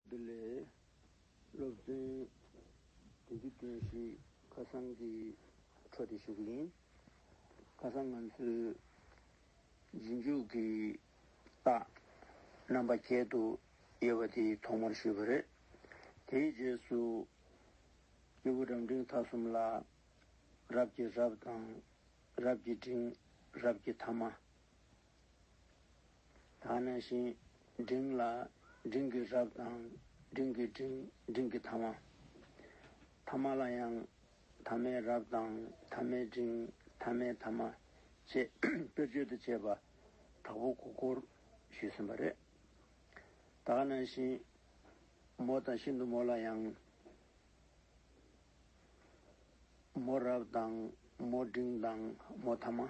འདི་ལས། སློབ་བརྩོན་དེ་རྒྱུ་རྐྱེན་བཞིས་ཁ་སང་གི་འཕྲོ་དེ་ཞུགས་ཡིན། ཁ་སང་ང་ཚོས་རྗེས་འཇུག་གི་རྟགས་རྣམ་པ་བརྒྱད་དུ་དབྱེ་བ་དེ་ཐོག་མར་ཞུས་པ་རེད། དེའི་རྗེས་སུ། སྐྱེས་བུ་རབ་འབྲིང་ཐ་གསུམ་ལ། རབ་ཀྱི་རབ་དང། རབ་ཀྱི་འབྲིང། རབ་ཀྱི་ཐ་མ། ད་ནི་བཞིན་འབྲིང་ལ་འབྲིང་གི་རབ་དང་འབྲིང་གི་འབྲིང་འབྲིང་གི་ཐ་མ། ཐ་མ་ལ་ཡང་ཐ་མའི་རབ་དང་ཐ་མའི་འབྲིང་ཐ་མའི་ཐ་མ་ཅེས་དཔེར་བརྗོད་དུ་བྱས་པ་དྲག་པོ་གོ་བསྐོར་ཞུས་ཟིན་པ་རེད། ད་ནི་བཞིན་མོ་དང་ཤིན་ཏུ་མོ་ལ་ཡང། མོ་རབ་དང་མོ་འབྲིང་དང་མོ་ཐ་མ།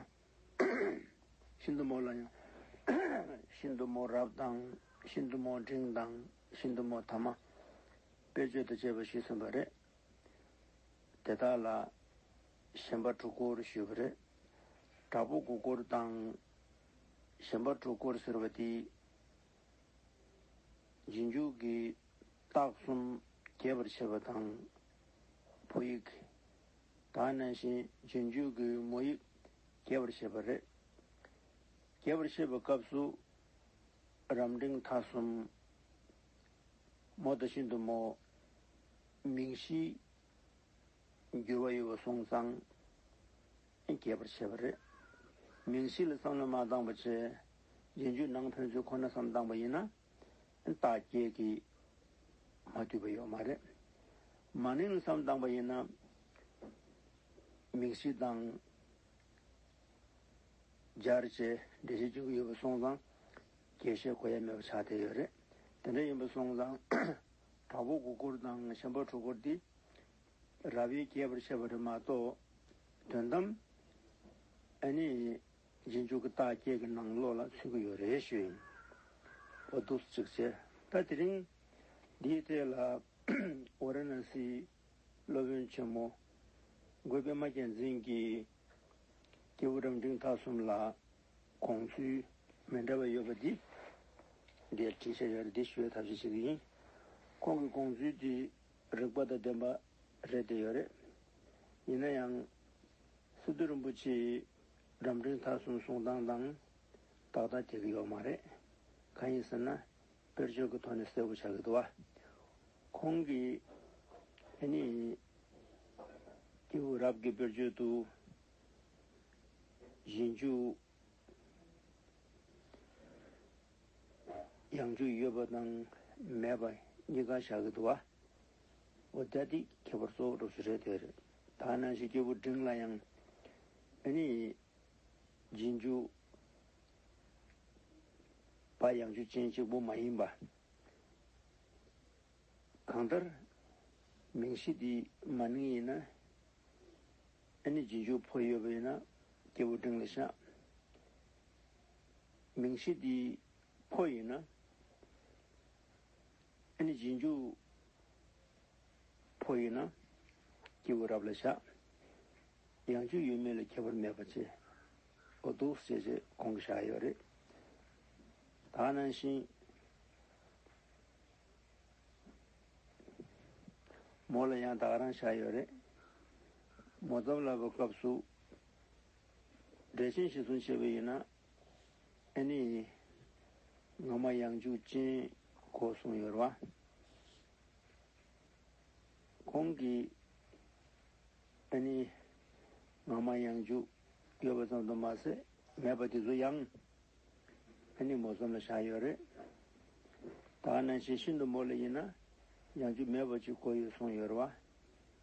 ཤིན་ཏུ་མོ་ལ་ཡང། ཤིན་ཏུ་མོ་རབ་དང། ཤིན་ཏུ་མོ་འབྲིང་དང། ཤིན་ཏུ་མོ་ཐ་མ། དཔེ་བརྗོད་དུ་བྱས་པ་ཞིག་གསུངས་པ་རེད། དེ་དག་ལ། ཞེན་པ་དྲུག་སྐོར་ཞུས་པ་རེད། དྲག་པོ་དགུ་སྐོར་དང། ཞེན་པ་དྲུག་སྐོར་ཟེར་བ་དེ། རྗེས་འཇུག་གི། རྟགས་གསུམ་རྒྱས་པར་བྱེད་པ་དང། བུ་ཡིག། གང་ནས་གཞན་རྗེས་འཇུག་གི་མོ་ཡིག་རྒྱས་པར་བཤད་པ་རེད། རྒྱས་པར་བཤད་པའི་སྐབས་སུ། རམ་འབྲིང་ཐ་གསུམ། མོ་དང་ཤིན་ཏུ་མོ། མིང་གཞིའི་འགྱུར་བ་ཡོད་པ་སོང་ཙང་རྒྱས་པར་བྱས་པ་རེད། མིང་གཞི་ལ་བསམ་བློ་མ་བཏང་བ་བྱས། རྗེས་འཇུག་ནང་ཕན་ཚུན་ཁོ་ན་བསམ་བཏང་བ་ཡིན་ན། བདག་བསྐྱེད་ཀྱིས་མ་བསྡུས་པ་ཡོད་མ་རེད། མ་ནིང་བསམ་བཏང་པ་ཡིན་ན། མིང་གཞི་དང། སྦྱར་བཅས་འགྲེལ་བྱེད་ཅིག་ཡོད་པ་སོང་ཙང། རྒྱས་བཤད་གོ་ཡ་མེད་པ་ཆགས་བསྡད་ཡོད་རེད། དེ་འདྲ་ཡིན་པ་སོང་ཙང། དྲག་པོ་དགུ་སྐོར་དང་གཞན་པ་དྲུག་སྐོར་འདི། རྭ་བས་རྒྱས་པར་བཤད་པ་རེད་མ་གཏོགས། དོན་དམ། ཨ་ནི། རྗེས་འཇུག་གི་བརྟག་དཔྱད་ཀྱི་ནང་བློ་ལ་ཚུད་ཀྱི་ཡོད་རེད་ཞུ་ཡིན། ཨོ་འདུག་གཅིག་བྱས། ད་དེ་རིང། འདིའི་གྲས་ལ། ཝཱ་ར་ན་སིའི། སློབ་དཔོན་ཆེན་མོ། འགོས་པདྨ་རྒྱལ་མཚན་གྱིས། སྐྱེས་བུ་རབ་འབྲིང་དག་གསུམ་ལ། དགོངས་ཚུལ། མི་འདྲ་བ་ཡོད་པ་འདི། འདིར་དྲིས་ཤ་ཡར་འདི་ཞུའི་ཐབས་ཤེས་ཤིག་ཡིན། ཁོང་གི་དགོངས་ཚུལ་འདི། རིགས་པ་དང་ལྡན་པ། རེད་དེ་ཡོད་རེད། ཡིན་ན་ཡང། སི་ཏུ་རིན་པོ་ཆེས་རབ་འབྲིང་མཐའ་གསུམ་གསུང་སྟངས་དང། ཏག་ཏག་འགྲིག་གི་ཡོད་མ་རེད། གང་ཡིན་ཟེར་ན། དཔེར་བརྗོད་ཀྱི་ཐོག་ནས་གསལ་བོ་ཆགས་ཀྱི་འདུག་བ། ཁོང་གིས། ཨེ་ནི། ཀེའུ་རབ་ཀྱི་དཔེར་བརྗོད་དུ། གཞན་འཇུག། ཡང་འཇུག་ཡོད་པ་དང་མེད་པ་གཉིས་ཀ་ཆགས་ཀྱི་འདུག་བ། འོ་དེ་ཁྱད་པར་གཙོ་བོ་སྒྲོག་ཤུགས་རེད་དེ། དག་སྣང་བཞི་སྐྱེས་བུ་འབྲིང་ལ་ཡང། འདི་ནི་རྗེས་འཇུག་པ་ཡང་ཆོས་ཅན་གཅིག་པུ་མ་ཡིན་པ། གང་ལྟར་མིང་གཞི་འདི་མ་ནིང་ཡིན་ན། འདི་ནི་རྗེས་འཇུག་བོ་ཡོད་པ་ཡིན་ན་སྐྱེས་བུ་འབྲིང་ལ་བཞག། མིང་གཞི་འདི་བོ་ཡིན་ན། འདི་ནི་རྗེས་འཇུག། ཕོ་ཡིན་ན། སྐྱེས་བུ་རབ་ལ་བྱ། ཡང་སྤྱོད་ཡུལ་མིན་ལ་ཁྱད་པར་མེད་པ་ཅི། འོ་འདུག་ཅེས་བྱས་གོང་གི་བཞག་ཡོད་རེད། ད་ནང་བཞིན། མོ་ལ་ཡང་དག་རང་བཞག་ཡོད་རེད། མོ་གཙང་ལབ་པའི་སྐབས་སུ། འབྲས་ཆན་ཞིག་བཟུང་བྱས་པ་ཡིན་ན། ཨེ་ནི། ངོ་མ་ཡང་འཇུག་ཅན་གོ་གསུངས་ཡོད་རེད་བ། ཁོང་གིས། ཨ་ནི། ང་མ་ཡང་འཇུག་ཡོད་པ་ཙམ་དུ་མ་ཟད་མེད་པ་དེ་ཚོ་ཡང། ཨ་ནི་མོ་གསུམ་ལ་བཞག་ཡོད་རེད། ད་ནང་བཞིན་ཤིན་ཏུ་མོ་ལ་ཡིན་ན་ཡང་འཇུག་མེད་པ་ཅིག་གོ་ཡོད་གསུངས་ཡོད་རེད་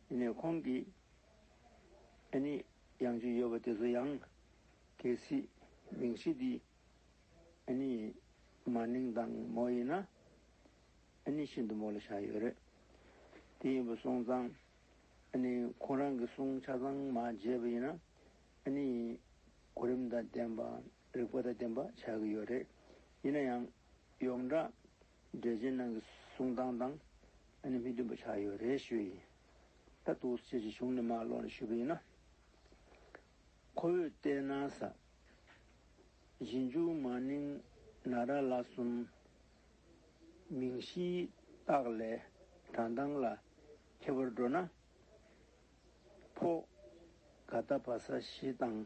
བ། དེ་ནས་ཁོང་གིས། ཨ་ནི། ཡང་འཇུག་ཡོད་པ་དེ་ཚོ་ཡང། གལ་སྲིད། མིང་གཞི་འདི། ཨ་ནི། མ་ནིང་དང་མོ་ཡིན་ན། ཨ་ནི་ཤིན་ཏུ་མོ་ལ་བཞག་ཡོད་རེད། དེ་ཡིན་པ་སོང་ཙང། ཨ་ནི་ཁོང་རང་གི་སོང་ཆ་ཚང་མ་བརྗེས་པ་ཡིན་ན། ཨ་ནི་གོ་རིམ་དང་ལྡན་པ་རིག་པ་དང་ལྡན་པ་བྱ་གི་ཡོད་རེད། ཡིན་ན་ཡང། ཡོངས་གྲགས་འགྲེལ་བྱེད་ནང་གི་གསུང་སྟངས་དང་ཨ་ནི་མི་མཐུན་པ་ཆགས་ཡོད་རེད་ཞུས་ཡིན། ད་ཐུགས་རྗེ་ཆེ་གཞུང་ནས་མ་ཀློག་ནས་ཞུས་པ་ཡིན་ན། ཁོ་བོས་བལྟས་ན་ས་གཞི་མཇུག་མ་ནིང་ན་ར་ལ་གསུམ། མིང་གཞིའི་རྟགས་ལས་གྲངས་དང་ལ་ཁྱད་པར་འགྲོ་ན། ཕོ། ག་རྟ་བ་ས་བཞི་དང་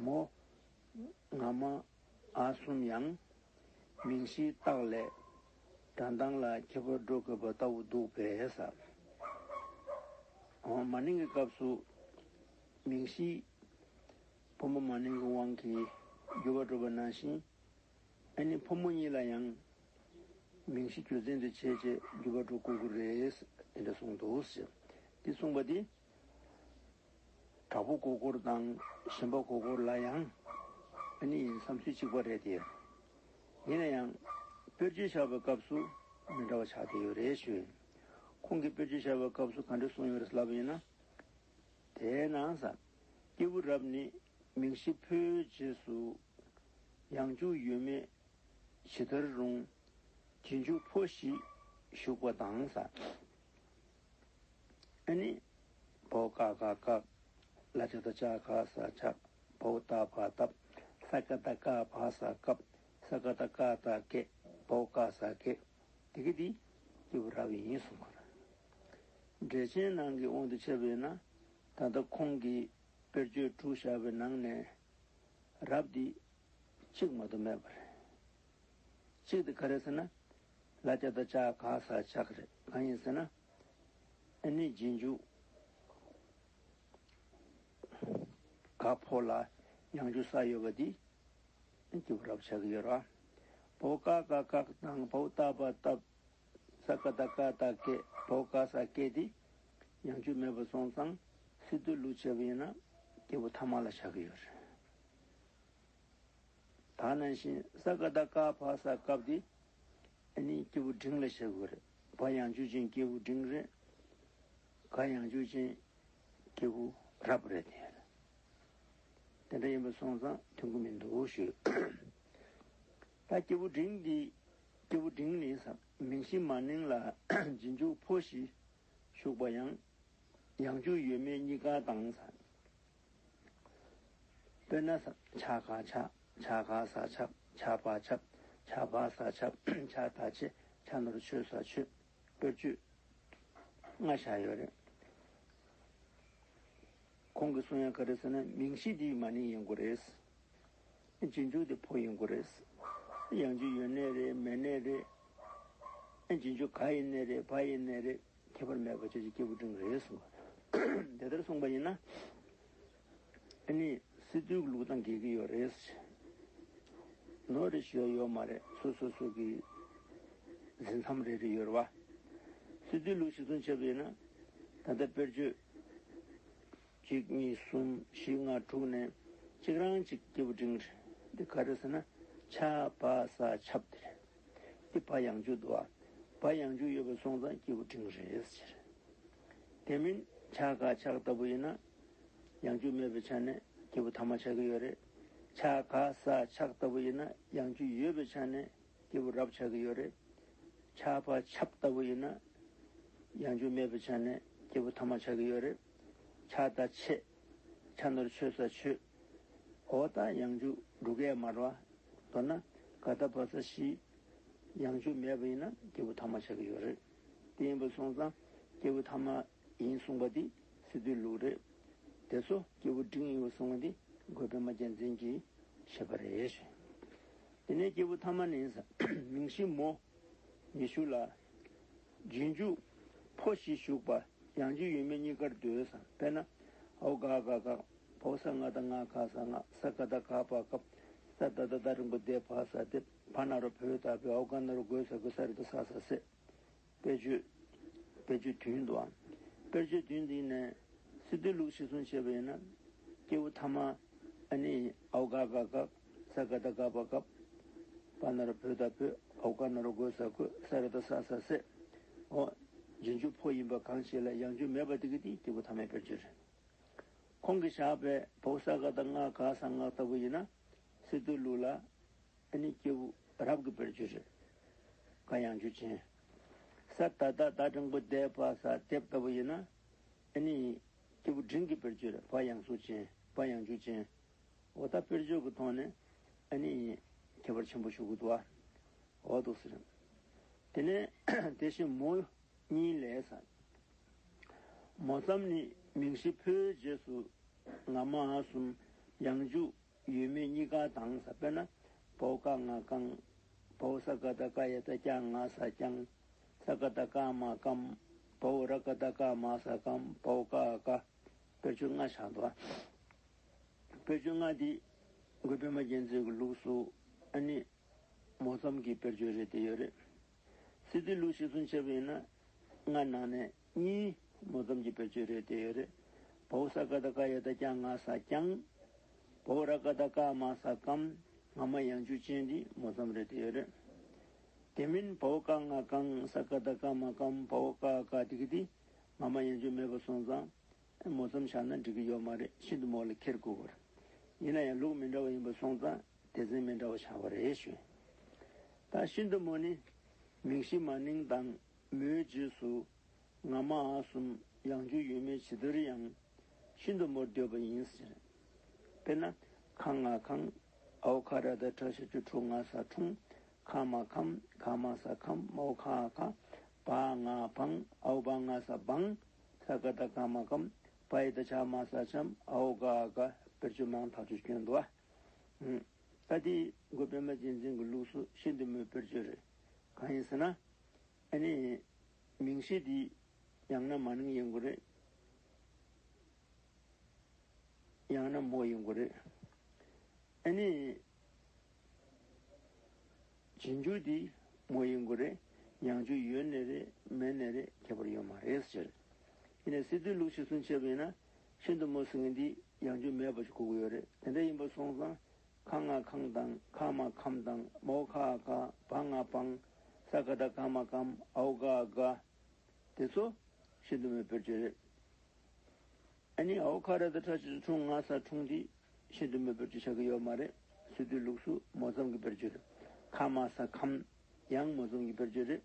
མོ། ང་མ་ཨ་གསུམ་ཡང། མིང་གཞིའི་རྟགས་ལས་གྲངས་དང་ལ་ཁྱད་པར་འགྲོ་དགོས་པ་ལྟ་བུ་འདུག་པས། ཨོ། མ་ནིང་གི་སྐབས་སུ། མིང་གཞིའི་ཕོ་མོ་མ་ནིང་གི་དབང་གིས་རྒྱུ་བ་འགྲོ་བ་ནང་བཞིན། ཨ་ནེ་ཕོ་མོ་གཉིས་ལ་ཡང་མིང་གཞི་རྒྱུ་མཚན་དུ་བྱས་རྗེས་རྒྱུ་བ་འགྲོ་དགོས་ཀྱི་རེད། དེ་འདྲ་གསུངས་འདུག་ཟེར། འདི་གསུངས་པ་དེ། དྲག་པོ་གོ་གོར་དང་ཞན་པ་གོ་གོར་ལ་ཡང་ཨ་ནེ་ཡིན་བསམ་ཚུལ་གཅིག་པ་རེད་དེ། ཡིན་ན་ཡང། དཔེར་བརྗོད་བྱ་བའི་སྐབས་སུ་མི་འདྲ་བ་ཆགས་བསྡད་ཡོད་རེད་ཞུ། ཁོང་གིས་དཔེར་བརྗོད་བྱ་བའི་སྐབས་སུ་ག་འདྲ་གསུངས་ཡོད་རེད་ལབ་པ་ཡིན་ན། དེས་ན། སྐྱེས་བུ་རབས་ནི་མིང་གཞི་ཕོའི་རྗེས་སུ་ཡང་འཇུག་ཡོད་མེད་ཇི་ལྟར་རུང། དེ་འཇུག་ཕོ་བཞི་ཞུགས་པ་དང། ས་ནི། བོ་ཀ་ཀ་ཀ། ལ་ཅ་ད་ཅ་ཀ་ས་ཅ། བོ་ད་བ་ད། ས་ཀ་ད་ཀ་བ་ས་ཀ། ས་ཀ་ད་ཀ་ད་ཀེ། བོ་ཀ་ས་ཀེ། དེ་ཀེ་དེ། སྐྱེས་བུ་ར་བའི་ཡིན་གསུང་གོ། འགྲེལ་ཆེན་ནང་གི་དབང་དུ་བྱས་པས་ན། ད་ལྟ་ཁོང་གིས་དཔེར་བརྗོད་དྲུག་བཞག་པའི་ནང་ནས། རབས་འདི་གཅིག་མ་དུ་མེད་པ་རེད། གཅིག་དེ་ག་རེད་ཟེར་ན། ལ་རྒྱ་དང་ལྕགས་ག་ས་ལྕགས་རེད། གང་ཡིན་ཟེར་ན། ཨ་ནི་རྗེས་འཇུག་ག་ཕོ་ལ་ཡང་འཇུག་ས་ཡོད་པ་འདི་ཀྱི་བར་རབས་ཆགས་ཀྱི་ཡོད་ར། བོ་ཀ་ཀ་ཀག་དང་བོ་ཏ་པ་ཏབ། ས་ཀ་ད་ཀ་ད་ཀད་བོ་ཀ་ས་ཀད་དེ་ཉམས་རྒྱུ་མེད་པར་སོང་ཙང་སི་ཏུ་ལུགས་བྱས་པ་ཡིན་ན་སྐྱེས་བུ་ཐ་མ་ལ་བྱ་གི་ཡོད་རེད། ད་ནང་བཞིན་ས་ག་ཟླ་ཀ་བ་ས་སྐབས་དེ་ནི་སྐྱེས་བུ་འབྲིང་ལ་བྱ་དགོས་རེད། བ་ཡང་རྒྱུ་ཅན་སྐྱེས་བུ་འབྲིང་རེད། ག་ཡང་རྒྱུ་ཅན་སྐྱེས་བུ་རབ་རེད་དེ། དེ་འདྲ་ཡིན་པར་སོང་ཙང་མཐུན་གི་མི་འདུག་ཞུ། ད་སྐྱེས་བུ་འབྲིང་འདི་སྐྱེས་བུ་འབྲིང་ནི་ས་མིང་ཤིང་མ་ནིང་ལ་རྗེས་འཇུག་ཕོ་བཞི་ཞུགས་པ་ཡང། ཡང་བཅུ་ཡོད་མེད་གཉིས་ཀ་དང། དཔེར་ན། ཆ་ག་ཆ། ཆ་ག་ས་ཆ། ཆ་བ་ཆ། ཆ་བ་ས་ཆ། ཆ་ད་ཆེ། ཆ་ནོར་ཆོས་ས་ཆོས། དཔེར་བཅུ། ལྔ་བཞག་ཡོད་རེད། ཁོང་གི་གསུང་ཡང་ག་རེ་ཟེར་ན་མིང་གཞི་འདིའི་མ་ནིང་ཡིན་དགོས་རེད། རྗེས་འཇུག་དེ་ཕོ་ཡི་མགོ་རེད། གཡང་གཅིག་ཡོད་གནས་རེད་མེད་གནས་རེད། རྗེས་འཇུག་ག་ཡི་གནས་རེད་བ་ཡི་གནས་རེད་ཁྱད་པར་མེད་པར་ཁྱེད་ཀྱི་སྐྱེས་བུ་འབྲིང་རེད་གསུངས་པ། དེ་ལྟར་གསུངས་པ་ཡིན་ན། ཨ་ནི་སི་ཏུའི་ལུགས་དང་འགལ་གྱི་ཡོད་རེད་ཟེར། ནོར་རེ་ཞུ་ཡ་ཡོད་མ་རེད་ཚུར་སོ་སོ་གྱི་ཟིན་མཚམས་རེ་རེ་ཡོད་རེད་བ། སི་ཏུའི་ལུགས་གཞི་མཚོན་བྱས་པ་ཡིན་ན། ད་ལྟ་དཔེར་བརྗོད། གཅིག་གཉིས་གསུམ་བཞི་ལྔ་དྲུག་ནས་གཅིག་རང་གཅིག་སྐྱེས་བུ་འབྲིང། འདི་ག་རེ་ཟེར་ན་ཆ་བ་ས་ཆབ་འདི་རེད། འདི་བ་ཡང་བཅུ་འདུག་བ་ཡང་བཅུ་ཡོད་པའི་སོང་ཙང་སྐྱེས་བུ་འབྲིང་རེད་ཟེར། དེ་མིན་ཆ་ག་ཆག་ལྟ་བུ་ཡིན་ན་ཡང་བཅུ་མེད་པའི་ཆ་ནས་སྐྱེས་བུ་ཐ་མ་ཆག་གི་ཡོད་རེད། ཆ་ག་ས་ཆག་ལྟ་བུ་ཡིན་ན་ཡང་བཅུ་ཡོད་པའི་ཆ་ནས་སྐྱེས་བུ་རབ་ཆག་གི་ཡོད་རེད། ཆ་བ་ཆབ་ལྟ་བུ་ཡིན་ན་ཡང་བཅུ་མེད་པའི་ཆ་ནས་སྐྱེས་བུ་ཐ་མ་ཆག་གི་ཡོད་རེད། ཕྱག་བདར་ཆེ། ཕྱག་ནོར་ཆོས་ས་ཆོས། གོ་བརྡ་ཡང་འཇུག་འབྲུ་ཀའི་མར་བ། མདོར་ན་ག་བརྡ་བབས་ས་གཞི། ཡང་འཇུག་མེད་པ་ཡིན་ན་སྐྱེས་བུ་ཐ་མ་ཆགས་ཀྱི་ཡོད་རེད། དེ་ཡིན་པ་སོང་ཙང་སྐྱེས་བུ་ཐ་མ་ཡིན་གསུངས་པ་འདི་སི་ཏུའི་ལུགས་རེད། དེ་ཚོ་སྐྱེས་བུ་འབྲིང་ཡིན་བ་གསུངས་བ་འདི་རྒོད་པད་མ་རྒྱལ་མཚན་གྱིས་བཤད་པ་རེད། དེ་ནས་སྐྱེས་བུ་ཐ་མ་ནི་མིང་གཞི་མོ། ཉི་ཤུ་ལ། རྗེས་འཇུག། ཕོ་བཞི་བཞུགས་པ། ཡང་རྗེ་ཡོད་མེད་གཉིས་ཀར་ཟློས་སམ་དཔེར་ན། ཧཱུྃ་ག་ག་ག། བོ་གསང་སྔགས་ད་སྔགས་ག་ས་སྔགས་ས་ག་ད་ག་པ་ཀ། ས་ད་ད་ད་རིང་པོ་བཟླས་བ་ས་བཟླས་བ་ན་རོ་བོས་བཏགས་པའི་ཨོ་ག་ན་རོ་དགོས་ས་དགོས་ས་རི་ད་ས་ས་སེ། དཔེར་བརྗོད། དཔེར་བརྗོད་དུས་འདུག་ཨང། དཔེར་བརྗོད་དུས་འདི་ནས། སི་ཏུའི་ལུགས་ཤེས་གསུང་བྱས་པ་ཡིན་ན། སྐྱེས་བུ་ཐ་མ། ཨ་ནི། ཨོ་ག་ག་ག། ས་ག་དང་ཀ་པ་ཀ། པ་ན་ར་བོད་དང་བོད། ཨོ་ཀ་ན་ར་གོས་ས་གོས། ས་ར་དང་ས་ས་སེ། ཨོ། རྗེས་འཇུག་ཕོ་ཡིན་པ་གང་ཞིག་ལ་ཡང་འཇུག་མེད་པ་དེ་གི་དེའི་སྐྱེས་བུ་ཐ་མའི་དཔེར་བརྗོད། ཁོང་གིས་བཞག་པའི་བོགས་ས་ག་དང་ལྔ་ག་ས་ལྔ་ལྟ་བུ་ཡིན་ན། སི་ཏུ་ལུགས་ལ། ཨ་ནི་སྐྱེས་བུ་རབ་གི་དཔེར་བརྗོད། ག་ཡང་འཇུག་ཅན། ས་ད་ད་ད་འབྲིང་པོ་དེ་པ་ས་དེབ་ལྟ་བུ་ཡིན་ན། ཨ་ནི། སྐྱེས་བུ་འབྲིང་གི་དཔེར་བརྗོད། བ་ཡང་གཟུགས་ཅན། བ་ཡང་འཇུག་ཅན། འོ་ད་དཔེར་བརྗོད་ཀྱི་ཐོག་ནས་ཨ་ནི་ཁྱད་པར་ཆེན་པོ་ཞུ་གི་འདུག་ཨ། འོ་དོ་ཟེར། དེ་ནས་དེ་བཞིན་མོ་གཉིས་ལས། མོ་ཙམ་ནི་མིང་གཞི་ཕོའི་རྗེས་སུ་ང་མ་གསུམ། ཡང་འཇུག་ཡོད་མེད་གཉིས་ཀ་དང་ས་དཔེར་ན་བོ་ཀ་ང་ཀང། བོ་ས་ཀ་ད་ཀ་ཡ་ད་ཀྱང་ང་ས་ཀྱང། ས་ཀ་ད་ཀ་མ་ཀམ། བོ་ར་ཀ་ད་ཀ་མ་ས་ཀམ་བོ་ཀ་ཀ། དཔེར་བརྗོད་ལྔ་ཆགས་འདུག་ཨ། བེར་གྱོན་སྔགས་འདི་དགོས་པདྨ་རྒྱལ་མཚན་གྱི་ལུགས་སུ་ཨ་ནི། མོ་མཚམས་ཀྱི་བེར་གྱོན་རེ་དེ་ཡོད་རེད། སི་ཏུའི་ལུགས་ཤིག་ཟུང་ཆེ་བུ་ཡིན་ན། སྔགས་ནང་ནས་གཉིས། མོ་མཚམས་ཀྱི་བེར་གྱོན་རེ་དེ་ཡོད་རེད། བ་འུ་ས་ཀ་ད་ཀ་ཡ་ད་ཀྱང་ང་ས་ཀྱང། བ་འུ་ར་ཀ་ད་ཀ་མ་ས་ཀམ། ང་མ་ཡང་འཇུ་ཅན་འདི་མོ་མཚམས་རེ་དེ་ཡོད་རེད། དེ་མིན་བ་འུ་ཀ་ང་ཀང་ས་ཀ་ད་ཀ་མ་ཀམ་བ་འུ་ཀ་ཀ་དི་ཀི་དི། ང་མ་ཡང་འཇུ་མེད་པ་སོང་ཙང། ཨེ་མོ་ཙམ་བཞག་ན་འགྲིག་གི་ཡོད་མ་རེད་ཤིན་ཏུ་མོ་ལ་ཁེར་དགོས་བར། ཡིན་ན་ཡང་ལུགས་མི་འདྲ་བ་ཡིན་པ་སོང་ཙང་སྡེ་ཚན་མི་འདྲ་བ་ཆགས་པ་རེད་ཞུ། ད་ཤིན་ཏུ་མོ་ནི་མིང་གཞི་མ་ནིང་དང་མོའི་རྗེས་སུ་ང་མ་ཨ་གསུམ་ཡང་རྒྱུ་ཡོད་མེད་ཇི་ལྟར་ཡང་ཤིན་ཏུ་མོར་འདོད་པ་ཡིན་ཟེར། དཔེར་ན་ཁ་ང་ཁང་ཨའོ་ཁ་ར་ད་ཁྲ་ཤ་ཆུ་ཁྲུ་ང་ས་ཁྲུང་ཁ་མ་ཁམ་ཁ་མ་ས་ཁམ་མའོ་ཁ་ཨ་ཁ་བ་ང་བང་ཨའོ་བ་ང་ས་བང། ས་ག་ད་ཀ་མ་ཀམ་པ་ཡི་ད་ཆ་མ་ས་ཆམ་ཨའོ་ག་ཨ་ཀ་བེར་གཅོད་མང་ཐག་ཆོད་སྐྱོན་འདུག་ཨ། ད་དེ་འགོ་པད་མ་རྗེས་འཛིན་གྱི་ལུགས་སུ་ཤེས་འདུག་མོས་བེར་གཅོད་རེད། གང་ཡིན་ཟེར་ན། ཨ་ནི། མིང་ཤེས་འདི། ཡང་ན་མ་ནིང་ཡིན་དགོས་རེད། ཡང་ན་མོ་ཡིན་དགོས་རེད། ཨ་ནི། རྗེས་འཇུག་དེ་མོ་ཡིན་དགོས་རེད། ཡང་འཇུག་ཡོད་ནི་རེད་མེད་ནི་རེད་ཁྱད་པར་ཡོད་མ་རེད་ཟེར། དེ་ནས་སི་ཏུའི་ལུགས་ཤིག་སུན་ཕྱེ་བ་ཡིན་ན། ཤིན་ཏུ་མོ་སེང་གེ་འདི་ཡང་འཇུག་མེད་པ་ཞིག་གོ་གི་ཡོད་རེད་དེ་འདྲ་ཡིན་པ་སོང་ཙང། ཁ་ང་ཁང་དང་ཁ་མ་ཁམ་དང་མོ་ཁ་ཨ་ཁ་བ་ང་བང། ས་ཀ་ད་ཀ་མ་ཀམ་ཨའུ་ཀ་ཨ་ཀ། དེ་ཚོ་ཤིན་ཏུ་མོས་པོའི་ཆོས་རེད། ཨ་ནི་ཨའོ་ཁ་རེད་ད་ཁྲ་ཆིལ་ཁྲུང་ང་ས་ཁྲུང་འདི་ཤིན་ཏུ་མོས་པོའི་ཆོས་ཆགས་ཀྱི་ཡོད་མ་རེད་སུས་བསྡུས་ལུགས་སུ་མོ་ཙམ་གྱི་བེར་ཆོས་རེད། ཁ་མ་ས་ཁམ། ཡང་མོ་ཙམ་གྱི་བེར་ཆོས་རེད།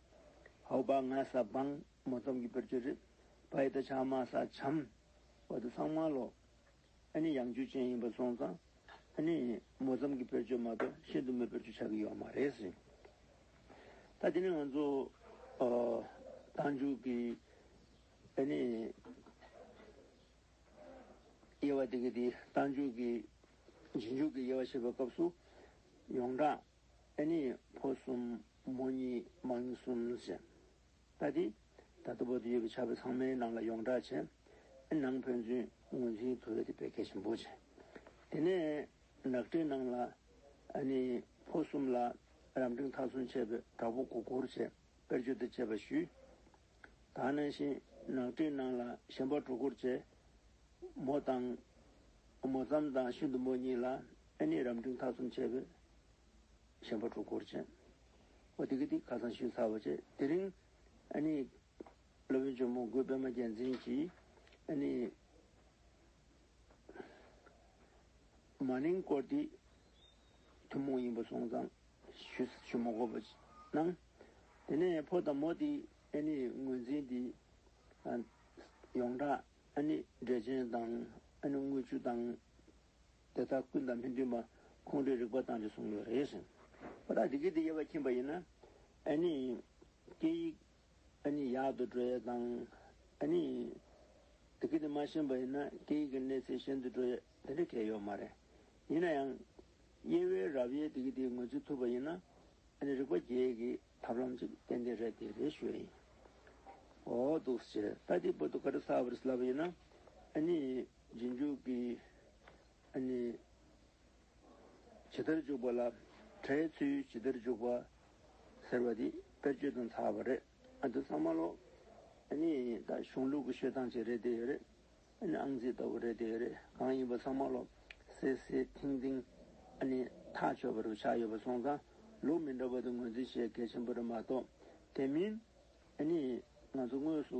ཧའོ་བ་ང་ས་བང། མོ་ཙམ་གྱི་བེར་ཆོས་རེད། བ་ཡི་ད་ཆ་མ་ས་བྱམས། བ་ད་སང་མ་ལོ། ཨ་ནི་ཡང་རྒྱུ་ཅན་ཡིན་པ་སོང་ཙང། ཨ་ནི། མོ་ཙམ་གྱི་བེད་སྤྱོད་མ་གཏོགས་ཤིན་ཏུ་མོས་བེད་སྤྱོད་བྱ་གི་ཡོད་མ་རེད་ཟེར། ད་དེ་ནི་ང་ཚོ། རྟ་མཇུག་གི། ཨ་ནི། དབྱེ་བ་དེ་གའི་དེ་རྟ་མཇུག་གི། རྗེས་མཇུག་གི་དབྱེ་བ་བྱེད་པའི་སྐབས་སུ། ཡོངས་གྲགས། ཨ་ནི། ཕོ་གསུམ། མོ་གཉིས། མ་གཉིས་གསུམ་ཟེར། པ་དེ། ད་ལྟ་བོད་དུ་ཡོད་པའི་ཆབ་བྲག་ཚང་མའི་ནང་ལ་ཡོངས་གྲགས་ཆེ། ཨེ་ནང་ཕན་ཚུན་ངོས་འཛིན་བོད་དེ་བེད་སྐད་ཆེན་པོ་ཆེ། དེ་ནས་ནག་ཁྲའི་ནང་ལ། ཨ་ནི། ཕོ་གསུམ་ལ། རབ་འབྲིང་མཐའ་སྲུང་བྱས་པའི་གྲགས་པོ་གོ་གོར་ཆེ། དཔེར་བརྗོད་དེ་བྱས་པ་ཞུས། ད་ནང་བཞིན་ནག་ཁྲའི་ནང་ལ་གཞན་པ་གྲོ་གོར་ཆེ། མོ་དང། མོ་ཙམ་དང་ཤིན་ཏུ་མོ་གཉིས་ལ་ཨེ་ནི་རབ་འབྲིང་མཐའ་སྲུང་བྱས་པའི། ཆེན་པོ་དྲུག་སྐོར་བྱས། ཨོ་དི་གི་ཏི་ཁ་སང་ཞུས་ཚར་བ་བཅས་དེ་རིང། ཨཱ་ནི། སློབ་དཔོན་ཇོ་མོ་མགོན་པདྨ་རྒྱལ་མཚན་གྱིས། ཨཱ་ནི། མ་ནིང་སྐོར་འདི། ཐུན་མོང་ཡིན་པ་སོང་ཙང། ཞུ་མ་གོ་བ་གནང། དེ་ནས་ཕོ་དང་མོ་འདི། ཨཱ་ནི། ངོས་འཛིན་འདི། ཡོངས་གྲགས། ཨཱ་ནི། འབྲས་ཆན་དང། ཨཱ་ནི་དངུལ་ཆུ་དང། དེ་དག་ཀུན་དང་མི་མཐུན་པ་ཁོང་ཁྲོའི་རིགས་པ་དང་རེ་ཟུང་ཡོད་རེད་ཟེར། ཁོ་ཐག་དེ་གི་དེ་ཡེར་བ་ཁྱིམ་པ་ཡིན་ན། ཨ་ནི། སྐད་ཡིག། ཨ་ནི་ཡག་ཏུ་འགྲོ་ཡས་དང། ཨ་ནི། དེ་གི་དེ་མ་ཤེས་པ་ཡིན་ན་སྐད་ཡིག་གི་གནས་ཚད་ཤེས་འདུ་འགྲོ་ཡས་དེ་འདྲ་གལ་ཡོད་མ་རེད། ཡིན་ན་ཡང། དབྱེ་བའི་རབ་དབྱེ་དེ་གི་དེ་ངོས་འཛིན་ཐུབ་པ་ཡིན་ན། ཨ་ནི་རིག་པ་རྒྱས་གི་ཐབས་ལམ་ཅིག་ཏན་ཏན་རེད་དེ་རེ་ཞོས་ཡིན། འོ། འདུག་ཟེར། ད་དེ་པོ་ཏོ་ཀ་རི་ས་བ་རི་སི་ལབ་པ་ཡིན་ན། ཨ་ནི། རྗེས་འཇུག་གི་ཨ་ནི། ཇི་ལྟར་འཇུག་པ་ལ་བྲའི་ཚུལ་ཇི་ལྟར་འཇུག་པ། ཟེར་བ་འདི་དཔེར་བརྗོད་དང་ཚགས་པ་རེད། ཨ་འདི་ཚང་མ་ལོ། ཨ་ནི་ད་གཞུང་ལུགས་ཀྱི་ཤོད་སྟངས་ཅིག་རེད་དེ་རེད། ཨ་ནི་ཨང་རྩིས་ལྟ་བུ་རེད་དེ་རེད། གང་ཡིན་པ་ཚང་མ་ལོ། སེ་སེ་ཐིང་ཐིང། ཨ་ནི་ཐག་ཆོད་པ་རུ་ཆགས་ཡོད་པ་སོང་ཙང་ལུགས་མི་འདྲ་བ་དེ་ངོས་འཛིན་བྱེད་གལ་ཆེན་པོ་རེད་མ་གཏོགས་དེ་མིན། ཨ་ནི་ང་ཚོ་དངོས་སུ་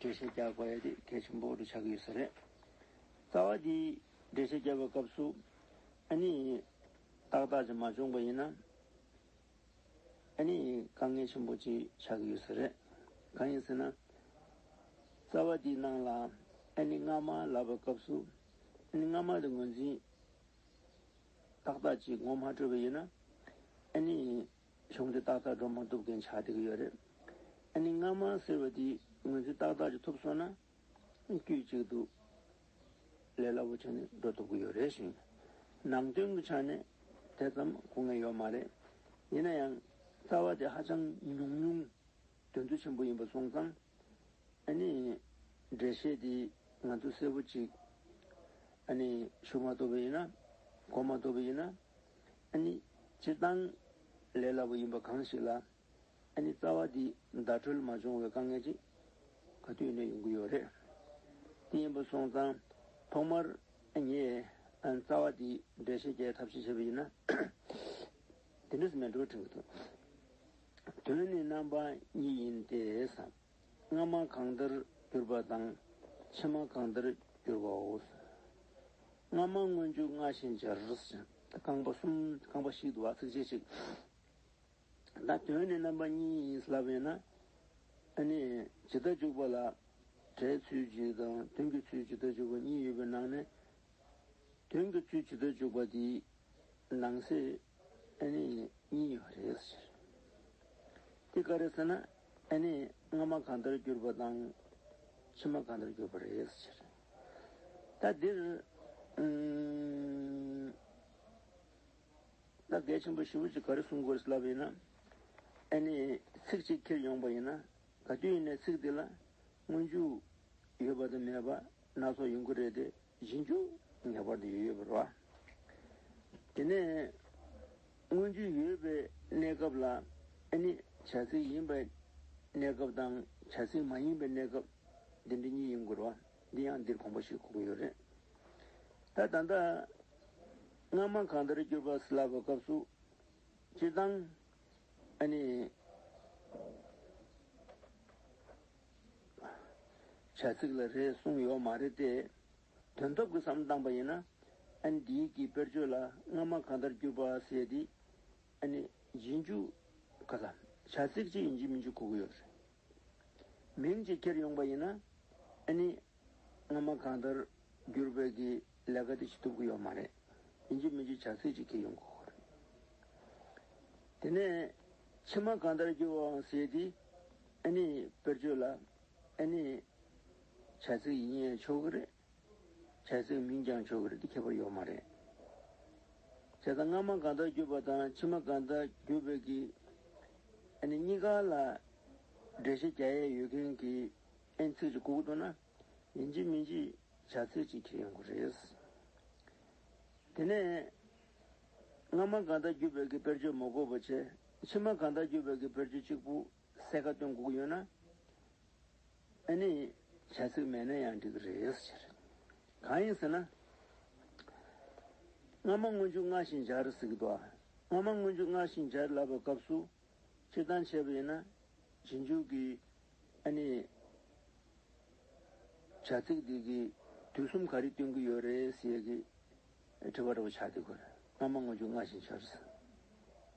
འགྲེལ་བཤད་རྒྱག་པ་དེ་གལ་ཆེན་པོ་འདུག་ཆགས་ཀྱི་ཡོད་ས་རེད། རྩ་བ་འདི་འགྲེལ་བཤད་རྒྱག་པའི་སྐབས་སུ་ཨ་ནི་ཏག་ཏག་ཅིག་མ་བྱུང་པ་ཡིན་ན། ཨ་ནི་དཀའ་ངལ་ཆེན་པོ་ཅིག་ཆགས་ཀྱི་ཡོད་ས་རེད། གང་ཡིན་ཟེར་ན། རྩ་བ་འདིའི་ནང་ལ་ཨ་ནི་སྔ་མ་ལབ་པའི་སྐབས་སུ་ཨ་ནི་སྔ་མ་དེ་ངོས་འཛིན་ཏག་ཏག་ཅིག་ངོ་མ་སྤྲོད་པ་ཡིན་ན། ཨ་ནི། བྱུང་སྟེ་ཏག་ཏག་སྒྲོམ་མང་གཏུབ་མཁན་ཆགས་བསྡད་ཀྱི་ཡོད་རེད། ཨ་ནི་རྔ་མ་ཟེར་བ་དེ་ངོས་འཛིན་ཏག་ཏག་ཅིག་ཐུབ་སོང་ན་དཀྱུས་གཅིག་ཏུ་ལས་སླ་བོ་བྱས་ནས་འགྲོ་ཐུབ་ཀྱི་ཡོད་རེད་ཞིང། ནང་དོན་གྱི་ཆ་ནས་དེ་ཙམ་གོ་ངེས་ཡོད་མ་རེད། ཡིན་ན་ཡང་རྩ་བ་དེ་ཧ་ཅང་ཉུང་ཉུང་དོན་ཚུལ་ཆེན་པོ་ཡིན་པ་སོང་ཙང། ཨ་ནི་འགྲེལ་བཤད་དེ་ང་ཚོས་གསལ་བོ་གཅིག་ཨ་ནི་ཞུ་མ་ཐུབ་པ་ཡིན་ན་གོ་མ་ཐུབ་པ་ཡིན་ན། སྤྱིར་བཏང་ལས་སླ་པོ་ཡིན་པ་གང་ཞིག་ལ། རྩ་བ་འདི་བརྡ་འཕྲོད་མ་བྱུང་བའི་དཀའ་ངལ་ཅིག་ག་དུས་ནས་ཡོང་གི་ཡོད་རེད། དེ་ཡིན་པ་སོང་ཙང་ཐོག་མར་ངས་རྩ་བ་འདི་འགྲེལ་བཤད་རྒྱའི་ཐབས་ཤེས་བྱས་པ་ཡིན་ན། དེ་འདྲ་ཟེར་ན་འགྲིག་པ་འགྲིག་གི་འདུག་དོན་ནི་རྣམ་པ་གཉིས་ཡིན་ཏེ། སྔ་མ་གང་ལྟར་གྱུར་པ་དང། ཕྱི་མ་གང་ལྟར་གྱུར་པའོ། སྔ་མ་སྔོན་འཇུག་སྔ་ཕྱི་འབྱར། རྐང་པ་གསུམ་རྐང་པ་ཞིག་ཏུ་བ་ཚིགས་བཅད་གཅིག། ད་དོན་ནི་རྣམ་པ་གཉིས་ཡིན་སླ་བས་ན། ཨ་ནི། ཇི་ལྟར་འཇུག་པ་ལ། སྒྲའི་ཚུལ་གཅིག་དང་དོན་གྱི་ཚུལ་ཇི་ལྟར་འཇུག་པ་གཉིས་ཡོད་པའི་ནང་ནས། དོན་གྱི་ཚུལ་ཇི་ལྟར་འཇུག་པ་དེའི་ནང་གསེས་ཨ་ནི་གཉིས་ཡོད་པ་རེད། དེ་ག་རེ་ཟེར་ན། ཨེ་ནས་སྔ་མ་གང་ལྟར་གྱུར་པ་དང། ཕྱི་མ་གང་ལྟར་གྱུར་པ་རེག་བྱ་སྟེ། ད་འདིར། ད་གལ་ཆེན་པོ་བཞི་བོ་ཅིག་ག་རེ་གསུང་དགོས་སླ་བ་ཡིན་ན། ཨེ་ནས་ཚིག་གཅིག་ཁྱེར་ཡོང་པ་ཡིན་ན། ག་དུས་ནས་ཚིག་དེ་ལ་སྔོན་འཇུག་ཡོད་པ་དང་མེད་པ་སྣ་ཚོགས་ཡོང་གི་རེད་དེ། བཞིན་འཇུག། ངེས་པར་དུ་ཡོད་པར་བ། དེ་ནས། མངོན་རྒྱུ་ཡོད་པའི་གནས་སྐབས་ལ་ནི། བྱ་ཚིག་ཡིན་པའི་གནས་སྐབས་དང། བྱ་ཚིག་མ་ཡིན་པའི་གནས་སྐབས། འདི་འདྲ་གཉིས་ཡིན་དགོས་ར་བ། འདི་ཡང་འདིར་གོམས་པ་ཞིག་གོ་གི་ཡོད་རེད། ད་ད་ལྟ། སྔ་མ་གང་ལྟར་གྱུར་པ་སླ་བའི་སྐབས་སུ། སྤྱིར་བཏང། བྱ་ཚིག་ལ་རེ་ཟུང་ཡོག་མ་རེད་དེ། དོན་ཐོབ་ཀྱི་བསམ་བཏང་པ་ཡིན་ན། ཨན་འདི་ཡིག་གི་དཔེར་བརྗོད་ལ་སྔ་མ་གང་ལྟར་བསྒྱུར་པ་ཟེར་དེ། ཨན་ནི་ཡིན་རྒྱུ། ག་ལ། བྱ་ཚིག་ཅིག་ཡིན་རྒྱུ་མིན་རྒྱུ་གོ་གི་ཡོག་རེད། མིང་ཅིག་ཁྱེར་ཡོང་པ་ཡིན་ན། ཨན་ནི། སྔ་མ་གང་ལྟར་བསྒྱུར་བས་ཀྱི་ལས་ཀ་དེ་བྱེད་ཐུབ་ཀྱི་ཡོག་མ་རེད། ཡིན་རྒྱུ་མིན་རྒྱུ་བྱ་ཚིག་ཅིག་ཁྱེར་ཡོང་གོ་གོ་རེད། དེ་ནས། ཕྱི་མ་གང་ལྟར་བསྒྱུར་བའང་ཟེར་དེ། ཨེ་ནི་དཔེར་བརྗོད་ལ། ཨེ་ནི། བྱ་ཚིག་ཡིན་ཡང་ཆོག་གི་རེད། བྱ་ཚིག་མིན་ཀྱང་ཆོག་གི་རེད་དེ་ཁྱད་པར་ཡོད་མ་རེད། བྱས་ཙང་སྔ་མ་གང་དག་བརྒྱུད་པ་དང་ཕྱི་མ་གང་དག་བརྒྱུད་པའི་གི། ཨེ་ནི་གཉིས་ཀ་ལ། འགྲེལ་བཤད་བརྒྱ་ཡས་ཡོད་མཁན་གི། ཨེ་ནི་ཚིག་གཅིག་ཁུག་ཏུ་ན། ཡིན་གཅིག་མིན་གཅིག་བྱ་ཚིག་གཅིག་ཁྱེར་ཡོང་དགོས་རེད། དེ་ནས། སྔ་མ་གང་དག་བརྒྱུད་པའི་གི་དཔེར་བརྗོད་མ་གོ་བ་བྱས། ཕྱི་མ་གང་དག་བརྒྱུད་པའི་གི་དཔེར་བརྗོད་གཅིག་པུ། གསལ་ཁ་བཏོན་བསྒུགས་ཡོད་ན། ཨ་ནི། བྱ་ཚིག་མེད་ན་ཡང་འགྲིག་གི་རེད་ཟེར། གང་ཡིན་ཟེར་ན། སྔ་མ་སྔོན་འཇུག་སྔར་བཞིན་སྦྱར་ཟེར་གི་འདུག་ཨ། སྔ་མ་སྔོན་འཇུག་སྔར་བཞིན་སྦྱར་ལབ་པའི་སྐབས་སུ། སྤྱིར་བཏང་བྱས་པ་ཡིན་ན། རྗེས་འཇུག་གི། ཨ་ནི། བྱ་ཚིག་འདི་གི། དུས་གསུམ་ག་རེ་སྟོན་གི་ཡོད་རེད་ཟེར་གི། དྲི་བ་འདྲ་བོ་ཆགས་འདུག་གི་རེད། སྔ་མ་སྔོན་འཇུག་སྔར་བཞིན་སྦྱར་ཟེར།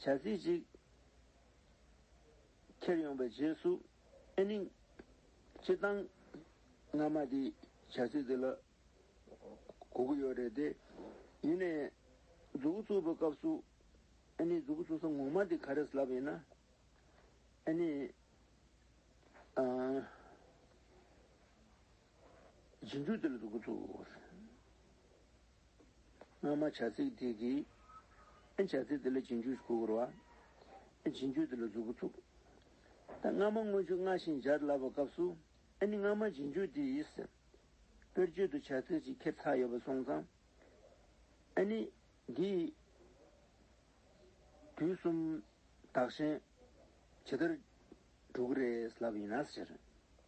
བྱ་རྩིས་ཅིག། ཁྱེར་ཡོང་པའི་རྗེས་སུ། ཨེ་ནིང། ཅི་བཏང། རྔ་མ་དེས་བྱ་རྩིས་དེ་ལ། གོ་གི་ཡོད་རེད་དེ། ཡིན་ནའི། མཛུ་གུ་བཙུགས་པའི་སྐབས་སུ། ཨེ་ནིང་མཛུ་གུ་བཙུགས་ས་ངོ་མ་དེ་ག་རེད་ལབ་ཡིན་ན། ཨེ་ནིང། སྦྱིན་སྤྲོད་དེ་ལ་འདུག་གོ་ཚུགས། སྔ་མ་བྱ་ཚིག་དེ་གིས། བྱ་ཚིག་དེ་ལ་སྦྱིན་སྤྱོད་གོ་བར་བ། སྦྱིན་སྤྱོད་དེ་ལ་འདུག་གོ་ཚུགས། སྔ་མ་མངོན་བརྗོད་སྔ་ཞིང་སྦྱར་སླ་བ་སྐབས་སུ། སྔ་མ་སྦྱིན་སྤྱོད་དེས། དཔེར་བརྗོད་དུ་བྱ་ཚིག་ཅིག་ཁྱེར་ཚར་ཡོད་པར་སོང་ཙང། འདིས། དུས་གསུམ་བདག་གཞན། ཇི་ལྟར། འགྲོ་གི་རེད་ལབ་ཡིན་ན།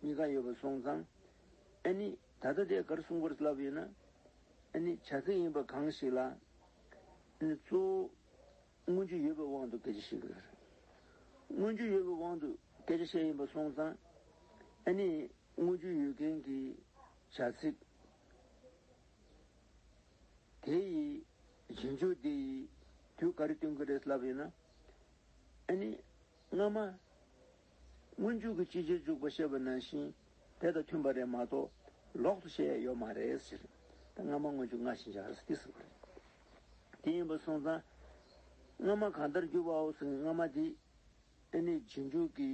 གཉིས་ཀ་ཡོད་པ་སོང་ཙང། ཨེ་ནི། ད་ལྟ་དེ་གར་སྲུང་འཁོར་བསླབ་ཡོད་ན། ཨེ་ནི། བྱ་ཚིག་ཡིན་པ་གང་ཞིག་ལ། ཨེ་ནི། གཙོ་བོ། མངོན་རྒྱུ་ཡོད་པའི་དབང་དུ་སྐད་ཆ་བཤད་གི་རེད། མངོན་རྒྱུ་ཡོད་པའི་དབང་དུ་སྐད་ཆ་བཤད་ཡིན་པ་སོང་ཙང། ཨེ་ནི། མངོན་རྒྱུ་ཡོད་མཁན་གྱི། བྱ་ཚིག། དེ་ཡིས། རྗེས་འཇུག་དེ་ཡིས། དུས་ག་རེ་སྟོན་གི་རེད་བསླབ་ཡོད་ན། ཨེ་ནི། སྔ་མ། སྔོན་འཇུག་གི་སྤྱི་རྗེས་འཇུག་པ་བཤད་པ་ནང་བཞིན་དེ་དང་མཐུན་པ་རེད་མ་གཏོགས་ལོག་ཏུ་བཤད་ཡ་ཡོད་མ་རེད་ཟེར། ད་སྔ་མ་སྔོན་འཇུག་སྔར་བཞིན་བྱ་ར་སྟེ་ཟེར་བ་རེད། དེ་ཡིན་པ་སོང་ཙང། སྔ་མ་གང་ལྟར་གྱུར་པའོ་ཟེར་ནས་སྔ་མ་དེ་ཨེ་ནས་རྗེས་འཇུག་གི།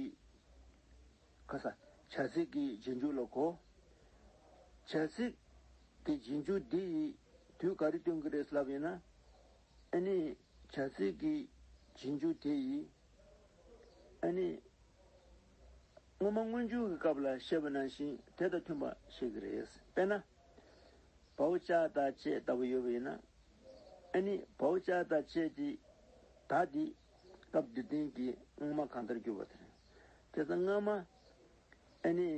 ཁ་ས། བྱ་ཚིག་གི་རྗེས་འཇུག་ལ་གོ། བྱ་ཚིག་གི་རྗེས་འཇུག་འདི་ཡིས་དུས་ག་རེ་སྟོན་གི་རེད་ལབ་ཡོད་ན། ཨ་ནི། བྱ་ཚིག་གི་བྱིན་འཇུག་དེ་ཡིས། ཨ་ནི། སྔོན་མ་སྔོན་འཇུག་གི་སྐབས་ལ་བཤད་པ་ནང་བཞིན་དེ་དང་མཐུན་པ་བཤད་ཀྱི་རེད། དཔེར་ན། བའོ་ལྕགས་དང་ཅལ་ལྟ་བུ་ཡོད་པ་ཡིན་ན། ཨ་ནི། བའོ་ལྕགས་དང་ཅལ་དེ་དག་དེ། སྐབས་འདིར་བསྟན་གྱི་སྔོན་མ་གང་ལྟར་བསྒྱུར་བ་དེ་རེད། དེ་ཚ་སྔ་མ། ཨ་ནི།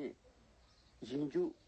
བྱིན་འཇུག།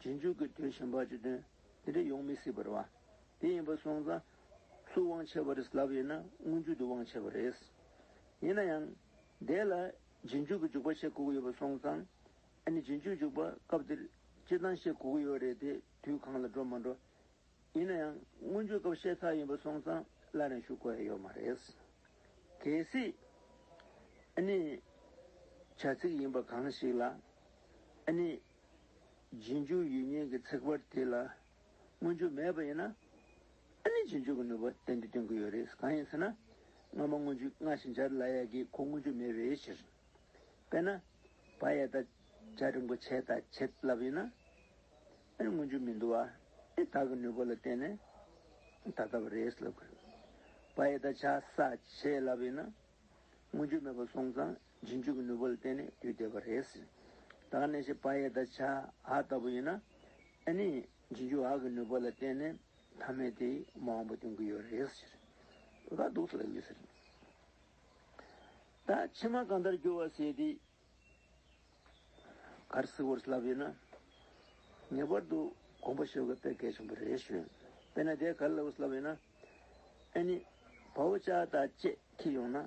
རྗེས་འཇུག་གི་དོན་ཞེན་པ་ཅི་དོན་དེ་འདྲ་ཡོང་མི་སྲིད་པར་བ་དེ་ཡིན་པར་སོང་ཙང། སུ་དབང་ཆེ་བ་རེད་ལབ་ཡོད་ན་མངོན་རྒྱུ་དེ་དབང་ཆེ་བ་རེད། ཡིན་ན་ཡང། དེ་ལ་རྗེས་འཇུག་གི་འཇུག་པ་ཤེས་དགོས་ཀྱི་ཡོད་པར་སོང་ཙང། ཨ་ནི་རྗེས་འཇུག་འཇུག་པ་སྐབས་དེར་སྤྱིར་བཏང་ཤེས་དགོས་ཀྱི་ཡོད་རེད་དེ་དུས་གང་ལ་འགྲོ་མ་འགྲོ། ཡིན་ན་ཡང་མངོན་རྒྱུའི་སྐབས་ཤེས་ཁག་ཡིན་པར་སོང་ཙང་སླར་ཡང་ཞུ་དགོས་ཡ་ཡོད་མ་རེད། གལ་སྲིད། ཨ་ནི། བྱ་ཚིག་ཡིན་པ་གང་ཞིག་ལ། ཨ་ནི། རྗེས་འཇུག་ཡུལ་ཉན་གྱི་ཚེག་བར་དེ་ལ་མངོན་རྒྱུ་མེད་པ་ཡིན་ན། ཨ་ནི་རྗེས་འཇུག་གི་ནུས་པ་གཏན་དུ་སྟོན་གྱི་ཡོད་རེད་གང་ཡིན་ཟེར་ན། སྔ་མ་མངོན་རྒྱུ་སྔ་ཕྱི་འཇར་ལ་ཡ་གི་གོ་མངོན་རྒྱུ་མེད་པའི་ཕྱིར། དཔེར་ན། བ་ཡ་དང་བྱ་རིན་པོ་ཆེ་དང་བྱེད་བསླབ་ཡིན་ན། ཨ་ནི་མངོན་རྒྱུ་མི་འདུག་ཨ་ནི་དག་གི་ནུས་པ་ལ་བརྟེན་ནས་ད་ལྟ་བ་རེད་ལབ་དགོས། བ་ཡ་དང་བྱ་ས་བྱེད་བསླབ་ཡིན་ན། མངོན་རྒྱུ་མེད་པ་སོང་ཙང་འབྱིན་འཇུག་གི་ནུས་པ་ལ་བརྟེན་ནས་དུས་འདས་པ་རེད། དང་ནས་ཤེས་པ་ཡེ་དང་བྱ་ཨ་ལྟ་བུ་ཡིན། ཨེ་ནི། འབྱིན་འཇུག་ཨ་གི་ནུས་པ་ལ་བརྟེན་ནས་ཐ་མལ་དེ་མ་འོངས་པ་སྟོན་གྱི་ཡོད་རེད། ལ་སྡུག་ཐུག་ལ་ཡོད་ཟེར། ད་ཕྱི་མ་གང་ལྟར་འགྱུར་བ་ཟེར་དེ། གར་གཟིགས་བོར་ལབ་ཡོད་ན། ངེས་པར་དུ་དགོངས་པ་ཤོད་དགོས་དཔེ་གལ་ཆེན་པོ་རེད་ཞུ། དཔེར་ན་དེ་གར་ལབ་བོར་ལབ་ཡོད་ན། ཨེ་ནི། བ་བོ་ཅག་དང་བཅས་ཁྱེད་ཡོང་ན།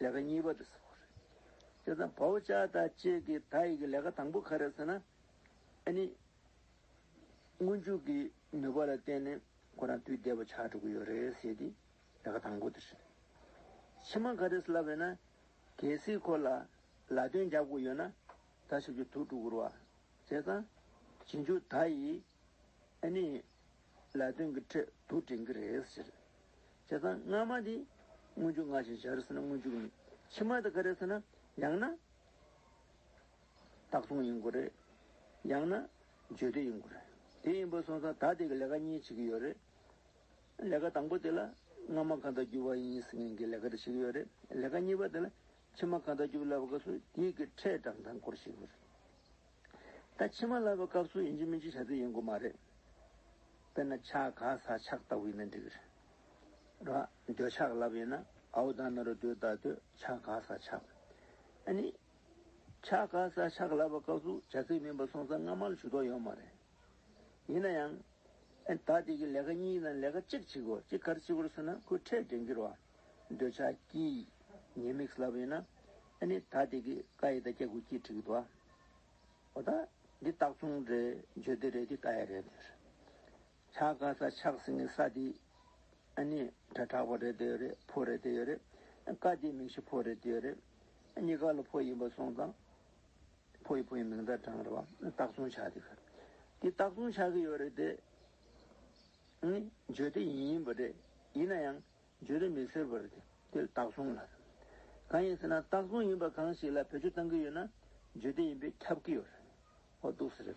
ལས་ཀ་གཉིས་པ་དེ་ཟེར་བ་རེད། དེ་ཚང་བའོ་ཅཱ་ད་ཅེ་གི་ད་ཡིག་གི་ལས་ཀ་དང་པོ་ག་རེད་ཟེར་ན། ཨ་ནི། སྔོན་འཇུག་གི་ནུས་པ་ལ་བརྟེན་ནས་ཁོ་རང་དུས་བདེ་བོ་ཆགས་འགྲོ་གི་ཡོད་རེད་ཟེར་ཏེ་ལས་ཀ་དང་པོ་དེ་རེད། ཕྱི་མ་ག་རེད་ཟེར་ལབ་ཡོད་ན། གལ་སྲིད་ཁོ་ལ་ལ་དོན་རྒྱབ་དགོས་ཡོད་ན། ད་ཞིབ་ཀྱི་ཐུགས་སྤྲོ་བསྐུར་བ། དེ་ཚང། བྱིན་འཇུག་ད་ཡིག། ཨེ་ནས། ལས་དོན་གྱི་ཁྲོད་དུ་འདྲེན་གྱི་རེད་ཟེར། བྱས་ཙང་སྔ་མ་དེ་སྔོན་འཇུག་སྔ་ཞིང་བྱ་རུ་ཟེར་ན་སྔོན་འཇུག་ཡིན། ཕྱི་མ་དེ་ག་རེད་ཟེར་ན། ཡང་ན། བདག་བཟུང་ཡིན་དགོས་རེད། ཡང་ན། བརྗོད་འདོད་ཡིན་དགོས་རེད། དེ་ཡིན་པ་སོང་ཙང་ད་དེ་གི་ལས་ཀ་གཉིས་བྱེད་ཀྱི་ཡོད་རེད། ལས་ཀ་དང་པོ་དེ་ལ་སྔ་མ་གང་དག་རྒྱུ་བ་ཡིན་ཟེར་མཁན་གྱི་ལས་ཀ་དེ་བྱེད་ཀྱི་ཡོད་རེད། ལས་ཀ་གཉིས་པ་དེ་ལ་ཕྱི་མ་གང་དག་རྒྱུ་བ་ལབ་སྐབས་སུ་དེའི་གི་ཁྲལ་གྲངས་དང་སྐོར་བཤད་ཀྱི་ཡོད་རེད། ད་ཕྱི་མ་ལ་བའི་སྐབས་སུ་ཡིན་གཅིག་མིན་གཅིག་བྱ་རྩིས་ཡིན་དགོས་མ་རེད། དཔེར་ན་ཆ་ག་ས་ཆག་ལྟ་བུ་ཡིན་ན་འགྲིག་རེད། ར་འདོད་ཆག་ལབ་ཡིན་ན་ཨའུ་ད་མེ་རོ་དུས་ད་དུས་ཆ་ག་ས་ཆག། ཨ་ནི། ཆ་ག་ས་ཆག་ལབ་པའི་སྐབས་སུ་བྱ་རྩིས་མིན་པ་སོང་ས་སྔ་མ་ལ་ཞུ་དོགས་ཡོད་མ་རེད། ཡིན་ན་ཡང། ད་ལྟའི་གི་ལས་ཀ་གཉིས་དང་ལས་ཀ་གཅིག་བྱེད་དགོས་གཅིག་གར་བྱེད་དགོས་ཟེར་ན་ཁོས་ཁྲལ་འགྲན་གི་ར་འདོད་ཆག་ཀྱིས་ཉེས་དམིགས་ལབ་ཡིན་ན། ཨ་ནི་ད་ལྟའི་གི་ཀ་ཡི་ད་སྐྱ་གུ་ཀྱིས་འཁྲིག་གི་འདུག་ཨ། ཨོ་ད། འདི་སྟག་ཚུང་རེད་བརྗོད་དེ་རེད་འདི་ཀ་ཡ་རེད་ཟེར། ཆ་ག་ས་ཆགས་ཟིན་གི་ས་འདི། ཨ་ནི་དྲ་དྲག་པོ་རེད་དེ་ཡོད་རེད་ཕོ་རེད་དེ་ཡོད་རེད། ཀ་འདི་མིང་གཞི་ཕོ་རེད་དེ་ཡོད་རེད། གཉིས་ཀ་ལ་ཕོ་ཡིན་པ་སོང་ཙང། ཕོ་ཡི་ཕོ་ཡི་མིང་དང་གྲངས་རེད་བ། སྟག་ཚུང་ཆགས་དེ་ག་རེད། འདི་སྟག་ཚུང་ཆགས་གི་ཡོད་རེད་དེ། ཨ་ནི་བརྗོད་དེ་ཡིན་ཡིན་པ་རེད། ཡིན་ན་ཡང། བརྗོད་དུ་མི་ཟད་པར་དེ་རྟགས་བཟུང་ལ། གང་ཡིན་ཟེར་ན་རྟགས་བཟུང་ཡིན་པ་གང་ཞིག་ལ་བེད་སྤྱོད་གཏང་གི་ཡོད་ན་བརྗོད་དེ་ཡིན་པས་ཁྱབ་ཀྱི་ཡོད་རེད། ཨོ་འདུག་ཟེར།